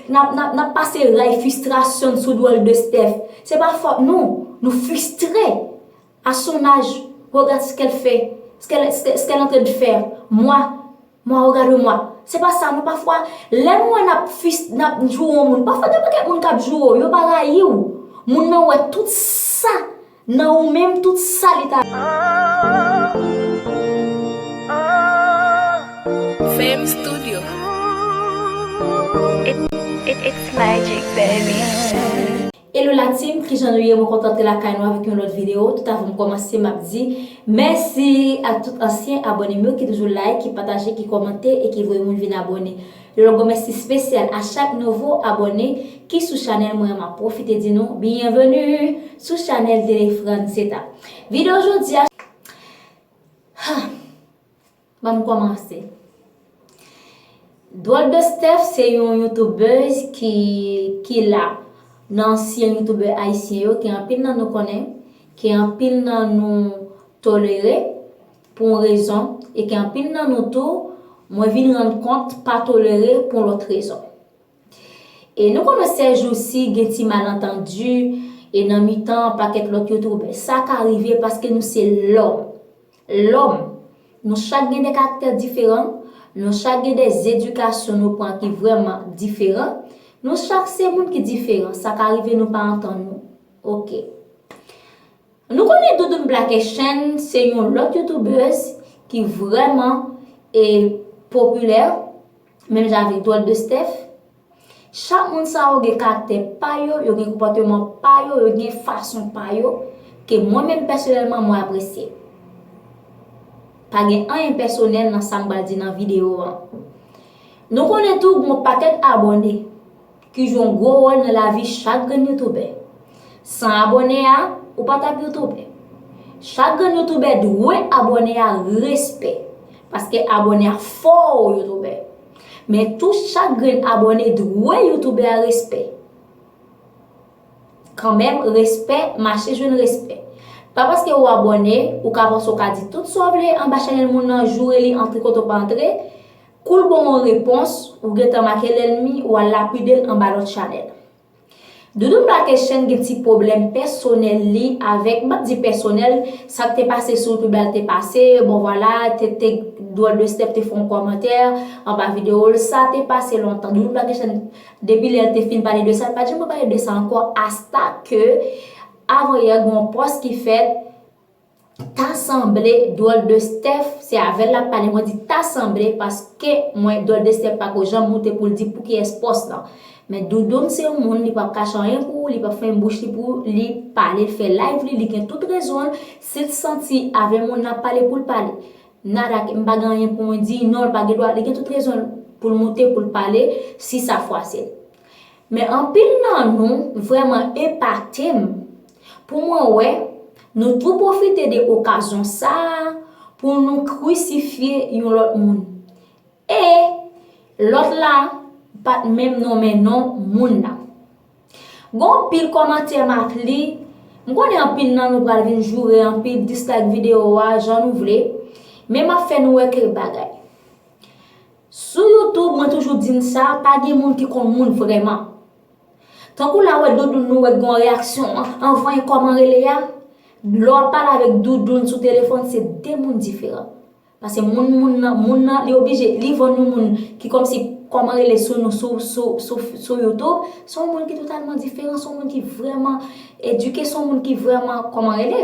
Nap pase ray fistrasyon sou dwol de Steph Se pa fot nou Nou fistre A son aj Regarde ce qu'elle fait Ce qu'elle en train de faire Moi Moi regarde moi Se pa sa nou pafwa Lè nou wè nap fis Nap joure yon moun Pafwa gen paket moun kap joure w Yo pa rayi w Moun nan wè tout sa Nan ou menm tout sa li ta. Fame studio it's magic baby. Hello la team kijan nou ye mwen kontan te lakay nou avèk yon lòt video tout avanm kòmanse map di mèsi ak tout ansyen abònem yo ki toujou like ki pataje ki kòmante e ki voye moun vin abòne. Yon gwo mèsi spesyal a chak nouvo abòne ki sou chanèl mwen an map pwofite di nou byenveni sou chanèl tele Franceta videyo jodi a ha banm kòmanse Dròl de Steph se yon youtoubèz ki ki la nan ansyen youtoubè ayisyen yo ke anpil nan nou konnen ke anpil nan nou tolere Pou yon rezon, e ke anpil nan nou tou, mwen vin rann kont, pa tolere pou yon lòt rezon. E nou konnen sèjousi gen ti malantandi, e nan mitan pakèt lòt youtoubè. Sa ka rive paske nou se lòm. Lòm. Nou chak gen de karaktè diferan, nou chak gen de zedikasyon nou pran ki vrèman diferan, nou chak se moun ki diferan. Sa ka rive nou pa antann nou. Ok. Nou konnen Doudoune Blaké Chen se yon lòt youtubeuse ki vrèman e popilè menm jan avèk Dròl de Steph. Chak moun sa yo gen karaktè pa yo, yo gen konpòteman pa yo, yo gen fason pa yo ke mwen menm pèsonèlman mwen apresye. Pa gen anyen pèsonèl nan sa m pral di nan videyo an. Nou konnen tou gon pakèt abòne. Ki jwe yon gwo wòl nan lavi chak grenn youtoubè. San abòne a, ou pa tap youtoubè. Chak grenn youtoubè dwe abòne a respè. Paske abòne a fè w youtoubè. Men tou chak grenn abòne dwe youtoubè a respè. Kanmenm respè mache jwenn respè. Pa paske ou abòne, ou ka panse ou ka di tout sa w vle anba chanèl moun nan joure li antre kote w pa antre. Cool bon on repons ou gentan make lèlmi ou al lapidel anba lòt chanèl. Doudoune Blakechen gen ti pwoblèm pèsonèl li avèk, m'pap di pèsonèl, sak te pase sou youtube la te pase, bon vwala TT Drôle de Steph te fè on kòmantè anba video l, sa te pase lontan Doudoune Blakechen depi lè l te fin pale de sa l pat janm repale de sa ankò asta ke avan yè gen on pòs ki fèt Ta sanble dwòl de Steph se avèl lap pale mwen di ta sanble paske mwen dwòl de Steph pako janm moute poul di pou kiyès pòs lan men Doudoune se yon moun li pap kache anyen pou ou li pap fèmen bouch li pou li pale l fè live li li gen tout rezon l sil santi avè moun nan pale poul pale nada m pa gen anyen pou mwen di non l pa gen dwa li gen tout rezon l poul moute poul pale si sa fwase l. Men anpil nan nou vrèman epate m pou mwen wè nou tou pwofite de okazyon sa a pou nou krisifye yon lòt moun. E, lòt la pa t menm nonmen non moun nan. Gen yon pil kòmantè m ap li, m konnen anpil nan nou pral vin joure anpi dislike videyo a jan nou vle, men m ap fè nou wè kèk bagay. Sou youtube mwen toujou di n sa pa gen moun ki konn moun vrèman tankou la wè doudoun nou wè gon reyaksyon an vanyen kòman rele a lè wap pale avèk doudoun sou telefòn se de moun diferan pase moun moun nan moun nan li oblije li vann yon moun ki kòmsi kòman rele sou nou sou sou sou youtube son moun ki totalman diferan son moun ki vrèman edike son moun ki vrèman kòman rele.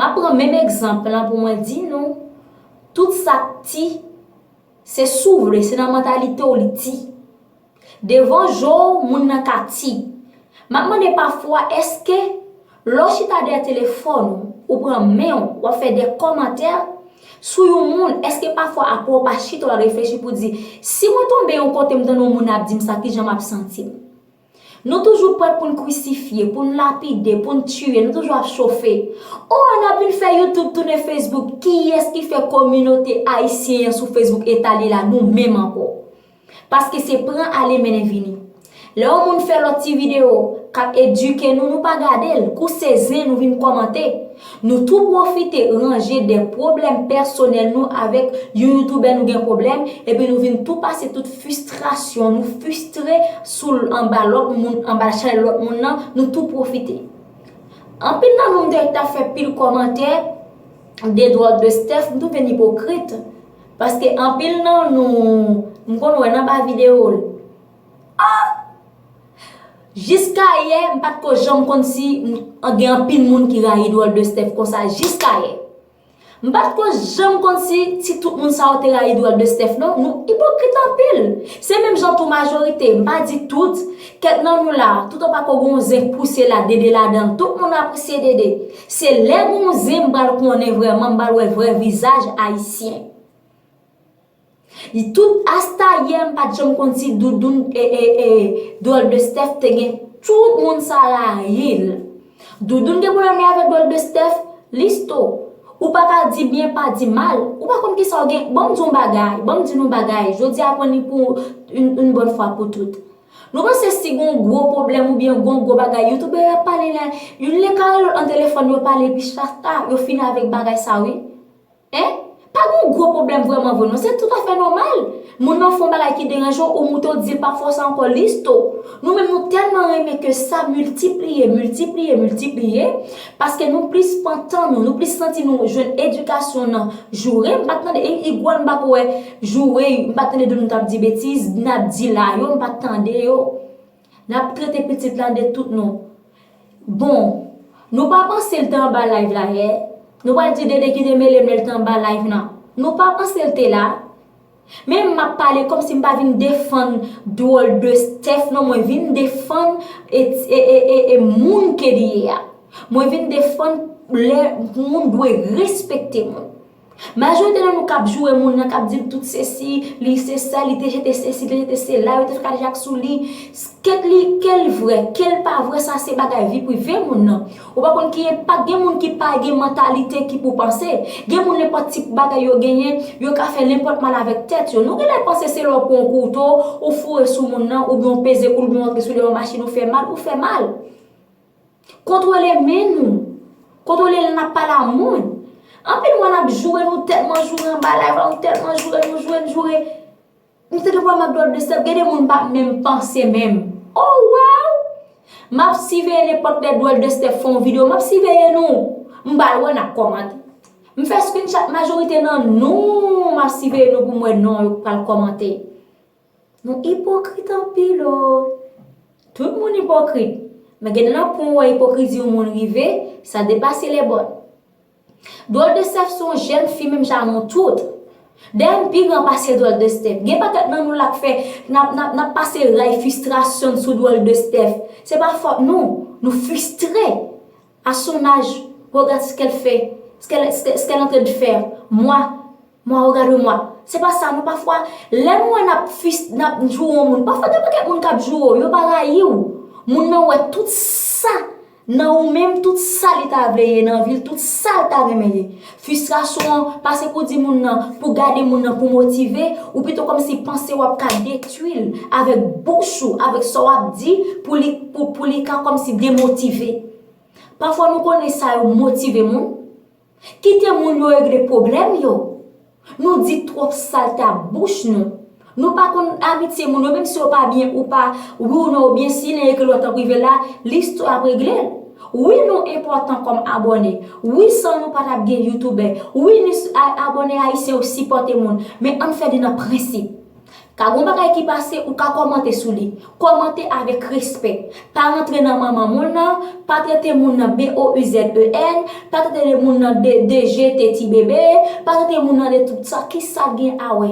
M ap pran menm egzanp lan pou mwen di nou, tout sa k ti, se si w vle, se nan mantalite w li ti. Devan je w, moun nan ka ti. M ap mande pafwa, èske lè w chita dèyè telefòn ou, ou pran men w, w ap fè de kòmantè sou yon moun, èske pafwa apre w pa chita w al reflechi pou w di, si mwen tonbe yon kote m tande yon moun ap di m sa, ki jan m ap santi m? Nou toujou prè pou n krisifye, pou n lapide, pou n tiye, nou toujou ap chofe. O, n ap vin fè YouTube tounen Facebook, kiyès ki fè kominote ayisyen an sou Facebook etabli la nou menm ankò. Paske se pran ale mennen vini. Lè yon moun fè lòt ti videyo, k ap edike nou, nou pa gade l, kouse zen nou vin kòmante. Nou tou pwofite ranje de pwoblèm pèsonèl nou avèk yon youtubè nou gen pwoblèm epi nou vin tou pase tout fistrasyon nou fistre sou l anba lòt moun anba chay lòt moun nan nou tou pwofite anpil nan nou m te ta fè pil kòmantè de dwòt de stèf m tounen ipokrit paske anpil nan nou m konn wè nan ba videyo l. Ahh! Jiskayè m pa t ko janm konn si gen anpil moun ki rayi Dwòl de Steph konsa jiskayè. M pa t ko janm konn si ti tout moun sa yo te rayi Dwòl de Steph non. Nou ipokrit anpil. Se menm jan tou majorite, m pa di tout, kèk nan nou la, tout an pa ko gen yon zen k pouse la, Dede ladan l. Tout moun apresye Dede. Se lè gen yon zen m pral konnen vrèman, m pral wè vrè vizaj Ayisyen. Li tout asta yè m pat janm konn si doudoun ee dwòl de Steph te gen tout moun sa rayil doudoun gen problèm li avèk dwòl de Steph Listo ou pa ka di byen pa di mal ou pa konn kisa ou gen bon m di w yon bagay bon m di nou yon bagay jodi a pran li pou yn bòn fwa pou tout nou panse si gon gwo problèm ou byen gon gwo bagay youtoubè yo ap pale la youn le kare lòt nan telefòn yo pale epi chak ta yo fini avèk bagay sa wi. Hein? Pa gen yon gwo pwoblèm vrèman vre non, se tout afè nòmal. Moun nan fè yon bagay ki deranje w, ou moute w di l pa fè sa ankò Listo. Nou menm nou tèlman renmen ke sa miltipliye, miltipliye, miltipliye, paske nou plis pantan nou, nou plis santi nou jwenn edikasyon nan joure, m pa t tande, igwòl m pa ko wè joure, m pa t tande de nou t ap di betiz, n ap di la yo, m pa t tande yo. Nap trete pitit la de tout non. Bon Nou pa panse l te anba live la yè Nou pral di DD ki te mele m lè l te anba live nan Nou pa panse l te la Men m ap pale kòm si m pa vin defann dwòl de Steph non mwen vin defann e moun ke li ye a Mwen vin defann lè moun dwe respekte moun. Majorite nan nou kap joure moun nan kap dil tout sesi, li se sa li te jete sesi, li te jete se la, yo te fè kadejak sou li. Kèt li, kèl vre, kèl pa vre sa se bagay vi prive moun nan. Ou pa konn ki enpak gen moun ki pa gen mantalite ki pou panse. Gen moun nenpòt tip bagay yo genyen, yo ka fè nenpòt mal avèk tèt yo. Nou genlè panse se lè ou pran yon kouto, ou foure sou moun nan, oubyen ou peze koul oubyen ou antre sou li yon machin ou fè mal, ou fè mal. Kontwole men nou. Kontwole lè n ap pale a moun. Anpil mwa n ap joure nou tèlman joure anba layv la nou tèlman joure nou joure nou joure. M te gen pwoblèm ak dwòl blistèp gen de moun m pa menm panse menm. O waw! M ap siveye nenpòt lè dwòl de stèp fè yon videyo m ap siveye nou. M pa lwen n ap kòmante. M fè screenshot majorite nan nou m ap siveye nou pou m wè non yo k pral kòmante. Nou ipokrit anpil o. Tout moun ipokrit. Men gen nan pou ou wè ipokrizi yon moun rive, sa depase lè bòn. Dwòl de Steph son jèn fi menm jan a nou tout. Dayè m pi gran pase dwòl de Steph. Gen pakèt nan nou la k fè nap pase ray fistrasyon n sou dwòl de Steph. Se pa fòt nou. Nou fistre. A son aj, regarde ce qu'elle fait, ce qu'elle est en train de faire. Moi. Mwa o gade mwa. Se pa sa non pafwa lè nou wè nap fis nap jou on moun pafwa gen pakèt moun kap jou ou yo pa rayi ou. Moun nan wè tout sa nan ou menm tout sa li ta vle ye nan vil tout sal ta renmen ye. Fisrasyon an pase pou di moun nan pou gade moun nan pou motive ou pito kòm si panse wap ka detwi l avèk bouch ou avèk sa wap di pou li pou li ka kòm si demotive. Pafwa nou konnen sa yo motive moun. Kite moun yo regle pwoblèm yo. Nou di twòp salte ak bouch nou. Nou pa konn amitye moun yo menm si yo pa byen ou pa, wi ou non ou byen si len ekri lòt an prive la, listwa ap regle l. Wi nou enpòtan kòm abòne. Wi san nou pa t ap gen youtoubè. Wi ni abòne ayisyen yo sipòte moun. Men ann fè li nan prensip. Ka gon bagay ki pase ou ka kòmante sou li. Kòmante avèk respè. Pa rantre nan manman moun nan, pa trete moun nan BOUZEN, pa trete de moun nan de de je te ti bebe, pa trete moun nan de tout sa. Ki sa gen a wè?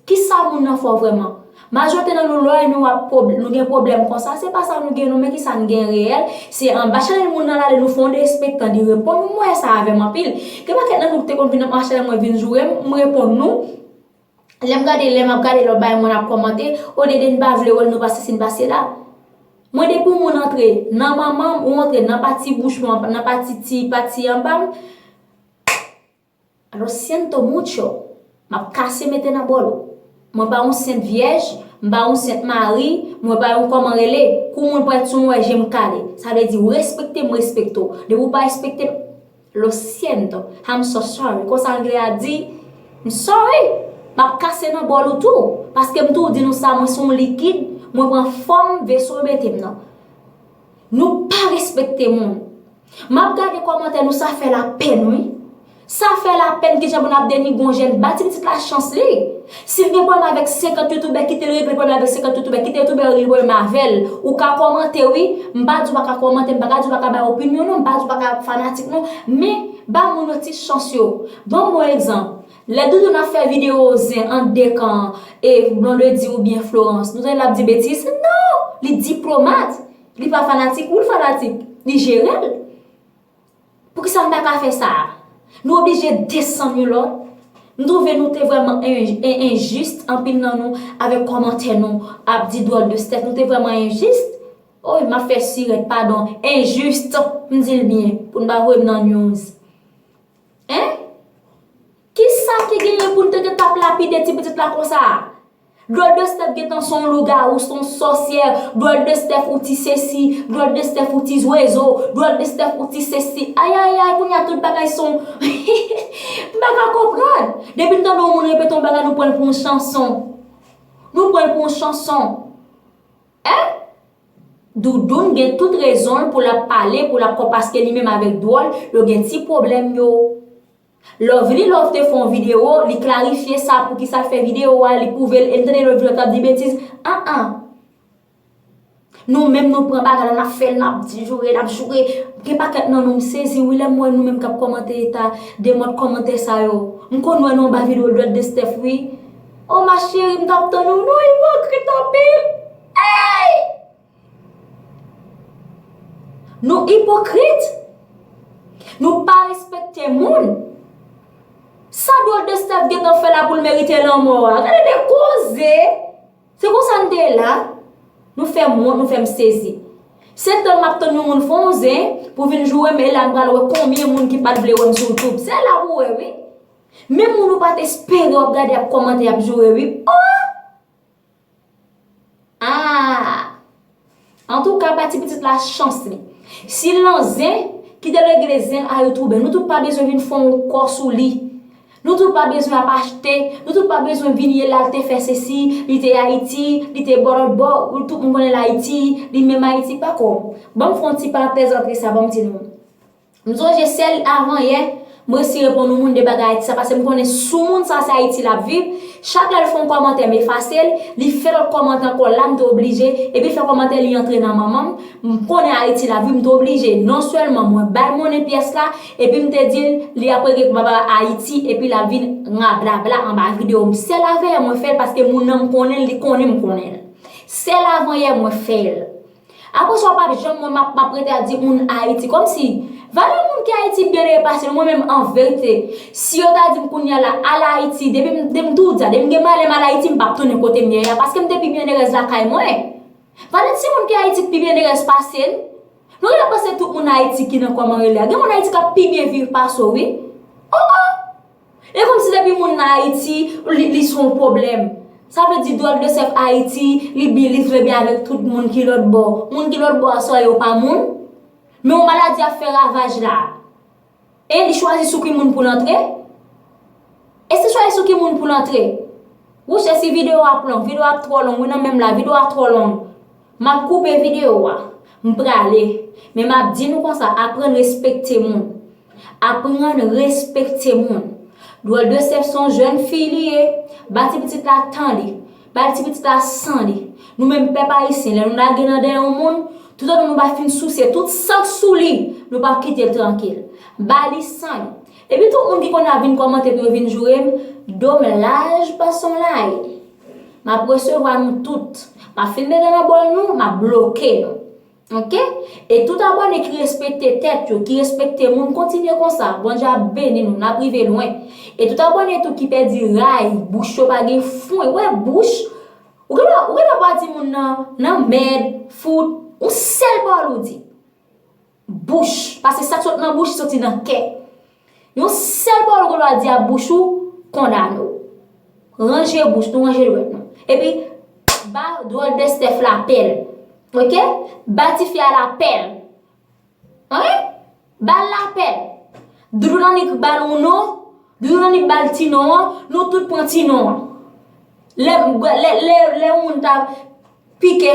Ki sa moun nan fè w vrèman? Majorite nan nou lè nou ap pwob, nou gen pwoblèm konsa, se pa sa nou gen nou men ki sa n gen reyèl. Se anba chanèl moun nan l ale nou fè yon derespektan li reponn ou m wè sa avè m anpil. Gen pakèt nan nou ki te konn vin anba chanèl mwen vin joure m, m reponn nou. lèm gade lèm ap gade lòt bagay moun ap kòmante olye de nou pa vle wèl nou pa sesi nou pa sela mwen depi yon moun antre nan manmanm ou antre nan pati bouch mwen nan pati ti pati anbam lo siento mucho map kase mete nan bòl ou mwen pa yon sent vyèj mwen pa yon sent mari mwen pa yon kòman rele kou moun prèt sou mwen jem kale sa vle di ou respekte m respekte ou depi ou pa respekte m. Lo siento, I'm so sorry, konsa angle a di, M sorry, m ap kase nan bòl ou tou, paske m tou di nou sa mwen se yon likid, mwen pran fòm veso yo mete m nan. Nou pa respekte moun. M ap gade kòmantè nou sa fè lapèn wi. Sa fè lapèn kijan pou n ap denigre yon jèn, ba ti pitit la chans li. Sil gen pwoblm avek 50 youtoubè kitel regle pwoblm avek 50 youtoubè kite youtoubè yo regle pwoblm avel ou ka komante wi m pa di w paka komante m paka di w paka bay opinyon non m pa di w paka fanatik non men ba moun yo ti chans yo banm bon egzanp lè doudou nan fè video zen ant 2 kan e blondedy ou byen florans nou tande lap di betiz non li diplomat li pa fanatik wi l fanatik li jerel Poukisa m pa ka fè sa a? Nou oblije desann youn lòt? M twouve nou te vrèman enjis, anpil nan nou, avèk kòmantè nou ap di dwòl de stèf. Nou te vrèman enjis? Oy, m ap fè sirèt, padon, enjis, m di l byen, pou n pa voye m nan news. Hein? Kisa ki genyen pou n te gen t ap lapide ti pitit la konsa a? Dròl de Steph gentan son lougarou, son sòsyè, dròl de Steph ou ti sesi, dròl de Steph ou ti zwezo, dròl de Steph ou ti sesi, ayayay kounye a tout bagay son hihihi m pa ka konprann, depi n tande yon moun repete yon bagay nou pran l pou yon chanson, nou pran l pou yon chanson eh. Doudoune gen tout rezonl poul ap pale poul ap kò paske li menm avèk dwòl yo gen ti pwoblèm yo. Lovely love te fè yon video li klarifye sa poukisa l fè video a li pwouve l e m tande Lovely love ap di betiz aa nou menm nou pran bagay la nap fè l nap joure nap joure gen pakèt nan nou m sezi wi lèm wè nou menm kap kòmante eta de mòd kòmantè sa yo m konn wè nou anba video dwèt de Steph wi oh ma chérie m tap tann ou nou ipokrit anpil eeyy. Nou ipokrit! Nou pa respekte moun! Sa Dwòl de Stèf gentan fè la pou l merite lanmò a? Gade de koze! Se konsa n te la? Nou fè m wont, nou fè m sezi. Se tann m ap tann yon moun fè yon zen pou vin joure m e la n pral wè konbyen moun ki pa t vle wè m sou Youtube. Se la pou w wè wi! Menm moun ou pa t espere w ap gade ap kòmante, ap joure wi. Ohh! Aah Antouka pa ti pitit la chans li Si l nan zen Kite l regle zen l a yo twoube Nou tout pa bezwen vin fon w kò sou li Nou tout pa bezwen ap achte Nou tout pa bezwen vin ye la l te fè sesi Li te Ayiti Li te bò lòt bò Ou tout moun konnen l Ayiti Li menm Ayiti pako Ban m fon ti parantèz antre sa ban m di nou M sonje sèl avan yè, m resi reponn yon moun de bagay Ayiti sa pase m konnen sou moun sa se Ayiti l ap viv, chak lè l fon kòmantè m efase l, li fè lòt kòmantè ankò la m te oblije, epi l fè kòmantè li antre nan manman m, m konnen Ayiti l ap viv m te oblije non sèlman mwen ba l monnen pyès la epi m te di l li ap regle pou papa Ayiti epi l ap vin rablabla anba videyo m sèl avan yè mwen fè l paske moun nan m konnen l li konnen m konnen l sèl avan yè mwen fè l. Apre sa w pap janm wè map map rete ap di moun Ayiti kòm si Valè moun ki Ayiti byen depase nou mwen menm anverite si yo ta di m kounya la al Ayiti depi m depi m tou di sa depi m gen malè m al Ayiti m pap tounen kote m ye a paske m te pi byennerèz lakay mwen Valè ti moun ki Ayiti k pi byennerèz pase n nou rete panse tout moun Ayiti ki nan kòman rele a gen moun Ayiti k ap pi byen viv pase w wi o o. E komsi depi moun nan Ayiti li se yon pwoblèm? Sa vle di dwòl de sèf Ayiti li bi li trè byen avèk tout moun ki lòt bò. Moun ki lòt bò a sa yo pa moun? Men yon maladi ap fè ravaj la. E li chwazi sou ki moun pou l antre? E si chwazi sou ki moun pou l antre? Wouch e si videyo ap long? Videyo ap twò long wi nan men m la, videyo a twò long. Map koupe video a. M prale. Men map di nou konsa aprann respekte moun. Aprann respekte moun. Dwòl de sèf son jèn fi li ye. Ba ti pitit la tan li. Bal ti pitit la san li. Nou menm pèp ayisyen lè nou lage nan dèyè yon moun, tout otan nou pa fin souse tout san k sou li, nou pap kite l trankil. Ba li san li. Epi tout moun ki konn ap vin kòmante pou yo vin joure m, do m laj pa son lay. M ap resevwa nou tout. M ap fin mete nan bòl nou, m ap bloke nou. Ok. E tout abòne ki respekte tèt yo, ki respekte moun, kontinye konsa. Bondye ap beni nou. N ap rive lwen. E tout abòne tou ki pèdi ray, bouch yo pa gen fwen. Ou wè bouch? Ou gen dwa, ou gen dwa pa di moun nan, nan mèd, fout. Yon sèl pawòl ou di. Bouch. Pase sa k sot nan bouch soti nan kè. Yon sèl pawòl ou gen dwa di a bouch ou kondane w. Ranje bouch nou, ranje dwèt nou. Epi, ba dwòl de Steph la pèl. Ok? Ba tifi a la pèl. Ok? Ba l la pèl. Doudou Nanik ba l yon non, Doudou Nanik ba l ti non an, nou tout pran ti non an. Lè yon moun ta pike.